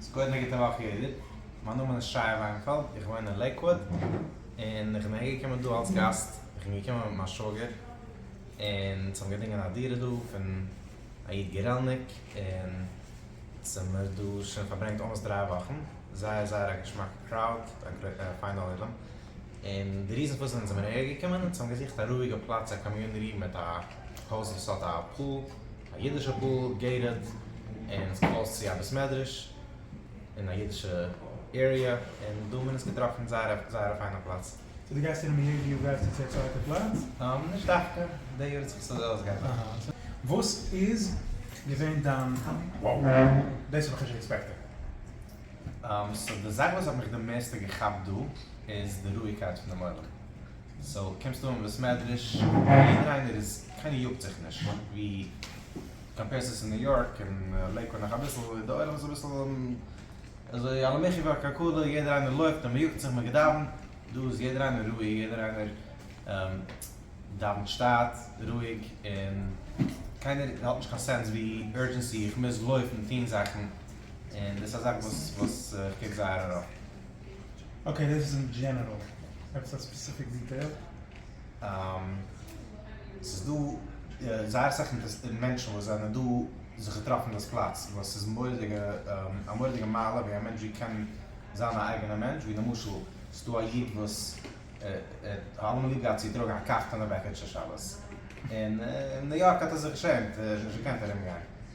ס'איז קודם א גוטע וואך יעדער, מיין נאמען איז שי וויינפעלד, איך וואוין אין לעיקוואד, און איך בין אהער געקומען דא אלץ גאסט, איך בין געקומען מיט מיין שוואגער, און אונז האבן געדינגען א דירה דא פון א איד גורעלניק, און אונז האמיר דא שוין פארברענגט אלמאסט דריי וואכן, זייער זייער א געשמאקע קראוד, א פיינע עולם, און די ריזן פארוואס אונז זעמיר אהער געקומען, אונז האבן געזוכט א רואיגע פלאץ א קאמיוני רום מיט א. הויז וואס האט א פול, א אידישע פול, געיטעד, און עס קלאוזט צו א בית מדרש, אין א אידישע עיריע, און דא מען עס געטראפן זייער א זייער א פיינע פלאץ. סאו די גייסט אינעם ריער וויו גייסטו צו א צווייטע פלאץ? נישט דווקא, די יאר האט זיך עס אזוי אויסגעארבעט. וואס איז געווען דיין wow, דאס האב איך נישט עקספעקטעד? סאו די זאך וואס האט מיך די מערסטע געכאפט דא איז די רואיגקייט פון דעם עולם. סאו קומסט אן בית מדרש יעדער איינער איז קיינער יאגט זיך נישט ווי קאמפערסט עס אין ניו יארק און לעיקוואד נאך אביסל איז די עולם אביסל אזוי על המחי' ועל כלכלה יעדער איינער לויפט און מען יאגט זיך מען געדאווענט דא איז יעדער איינער רואיג יעדער איינער דאווענט שטייט רואיג און קיינער האט נישט קיין סענס ווי אורדזשענסי איך מוז לויפן טון זאכן און דאס איז א זאך וואס וואס איך קוק זייער ארויף. אקעי דאס איז אין דזשענעראל. עפעס א ספעסיפיק דיטעיל? ס'איז דא זייער אסאך מענטשן וואס זענען דא זיך געטראפן דאס פלאץ וואס איז מורא'דיגע א מורא'דיגע מעלה ווי א מענטש ווי קען זיין א אייגענע מענטש ווי למשל ס'איז דא א איד וואס האט אלעמאל ליב געהאט צו טראגן א קאכטענע בעקיטשע שבת און אין ניו יארק האט ער זיך געשעמט ער האט נישט געקענט ארום גיין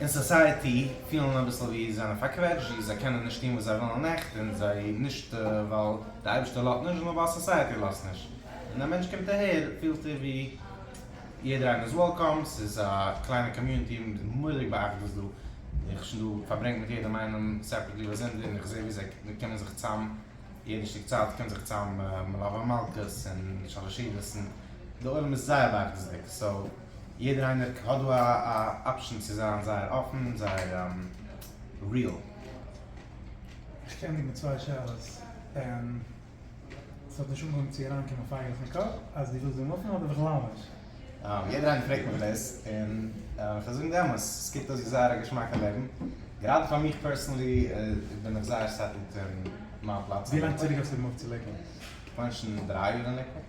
אין סאסייעטי פילן אביסל ווי זיי זענען פארקוועטשט ווי זיי קענען נישט טון וואס זיי ווילן עכט און זיי נישט ווייל די אייבערשטער לאזט נישט נאר ווייל סאסייעטי לאזט נישט און א מענטש קומט אהער פילט ער ווי יעדער איינער איז וועלקאם ס'איז א קליינע קאמיוניטי מורא'דיג בא'אחדות דא איך שוין דא פארברענגט מיט יעדעם איינעם סעפערעטלי ביי זונטאג און איך זעה ווי זיי קומען זיך צאם יעדע שטיק צייט קומט זיך צאם מלוה מלכה און שאלעשידעס און די עולם איז זייער בא'אחדות'דיג סאו. יעדער איינער ק האט דא א אפשען צו זיין זייער אפען זייער ריעל. איך קען דיך מיט צוויי שאלות, און עס האט נישט אנגעהויבן צו אריינקומען פייגלעך אין קאפ אז דו ווילסט דעם אפען אדער בכלל נישט. יעדער איינער פרעגט מיך דאס, און כ'וועל זאגן די אמת, עס קוקט אויס ווי זייער א געשמאקע לעבן, גראדע פאר מיך פערסענלי בין איך זייער סעטעלד אין מיין פלאץ אין לעיקוואד. ווילאנג צוריק האסטו געמאגט צו לעיקוואד? כ'מיין שוין דריי יאר אין לעיקוואד.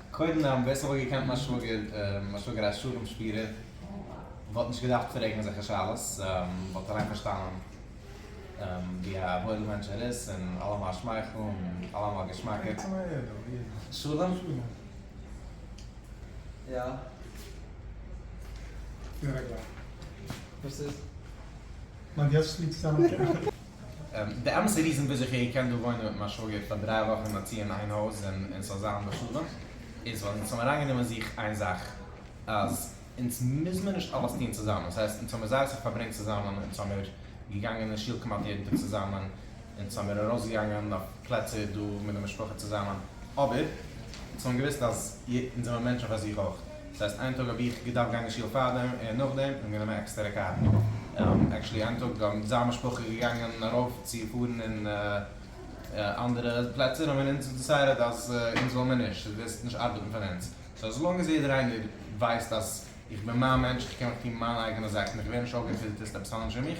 קודם דאן ווער ס'וואלט געקענט מיין שוואגער, מיין שוואגער א שלום שפירער, וואלט נישט געדארפט פרעגן אזעלכע שאלות, וואלט אליין פארשטאנען ווי א וואוילע מענטש ער איז, און אלעמאל א שמייכל און אלעמאל געשמאקער. שלום? יא? וואס איז? די אמת'ע ריזען וויאזוי איך האב געקענט דא וואוינען מיט מיין שוואגער פאר דריי וואכן א צי אין איין הויז און און ס'זאל זיין בשלום איז ווייל אונז האבן אריינגענומען זיך איין זאך אז אונז מוז מיר נישט אלעס טון צוזאמען ס'הייסט אונז האבן זייער אסאך פארברענגט צוזאמען אונז האמיר געגאנגען אין שול כמעט יעדן טאג צוזאמען אונז האמיר ארויסגעגאנגען אויף פלעצער דא מיט די משפחה צוזאמען אבער אונז האבן געוואוסט אז אונז זעמער מענטשן פאר זיך אויך. דאס הייסט איין טאג האב איך געדארפט גיין אין שול פארדעם און נאכדעם און גענומען עקסטערע קאר. עקשעלי איין טאג זענען זיין משפחה געגאנגען ארויף צו פארן אין אנדערע פלעצער האבן אונז דעסיידעט אז אונז וויל מיר נישט, עס וועסט נישט ארבעטן פאר אונז. סאו עז לאנג עז יעדער איינער ווייסט אז איך בין מיין מענטש איך קען מיך טון מיינע אייגענע זאכן איך ווער נישט אויפגעפיטערט אז עפעס אנדערש פון מיך.